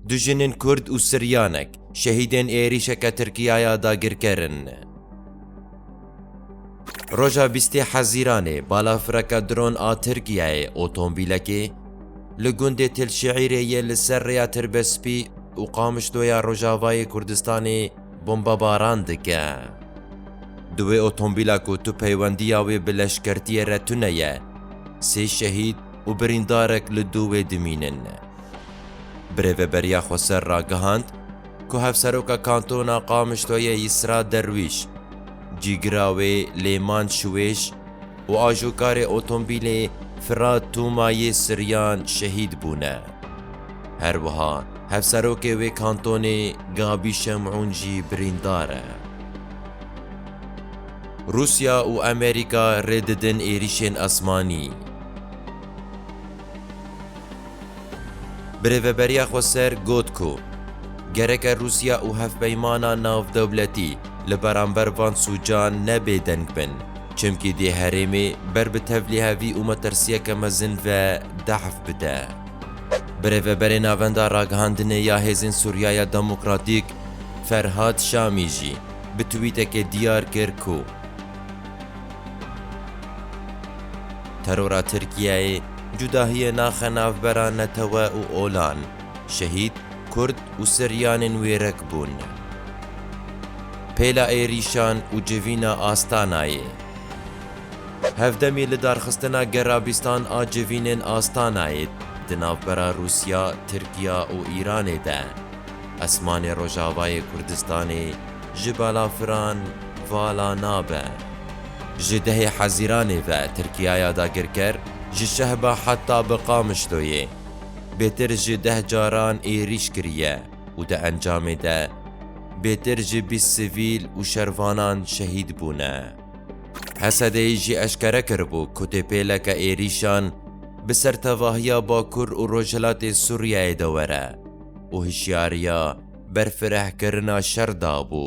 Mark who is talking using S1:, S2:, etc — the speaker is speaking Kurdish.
S1: Du jinên Kurd û Siryanek şehîdên êrîşeke Tirkiya ya dagirker in. Roja bîstê Hezîranê balafireke dron a Tirkiyeyê otomobîlekê li gundê Tilşiîrê yê li ser rêya Tirbespî û Qamişlo ya Rojavayê Kurdistanê bombebaran dike. Di wê otomobîla ku tu peywendiya wê bi leşkertiyê re tune ye, sê şehîd, û birîndarek li dû wê dimînin. Bi Rêveberiya Xweser re gihand ku Hevseroka Kantona Qamişloyê Yîsra Derwîş, cîgira wê Lêman Şiwêş û ajokarê otombîlê Firat Tûma yê Siryan şehîd bûne. Her wiha hevserokê wê kantonê Gabî Şemûn jî birîndar e. Rûsya û Amerîka rê didin êrîşên esmanî. Bi rêveberiya xwe ser got ku gereke Rûsya û hevpeymana navdewletî li beramber van sûcan ne bêdeng bin, çimkî dê herêmê ber bi tevlihevî û metirsiyeke mezin ve dehf bide. Bi rêveberê Navenda Ragihandinê ya Hêzên Sûriyaya Demokratîk Ferhad Şamî jî bi twîtekê diyar kir ku Terora Tirkiyeyê cudahiyê naxe navbera netewe û olan, şehîd, kurd û siryanên wê rek bûn. Pêla êrîşan û civîna Astanayê. Hevdemî li darxistina gerabîstan a civînên Astanayê di navbera Rûsya, Tirkiya û Îranê de. Esmanê Rojavayê Kurdistanê ji balafiran vala nabe. Ji dehê Hezîranê ve Tirkiyaya dagirker ji Şehba heta bi Qamişloyê bêtir ji deh caran êrîş kiriye û di encamê de bêtir ji bîst sivîl û şervanan şehîd bûne. HSD'ê jî eşkere kiribû ku têpêleke êrîşan bi ser tevahiya Bakur û Rojhilatê Sûriyeyê de were. û hişyariya berfirehkirina şer dabû.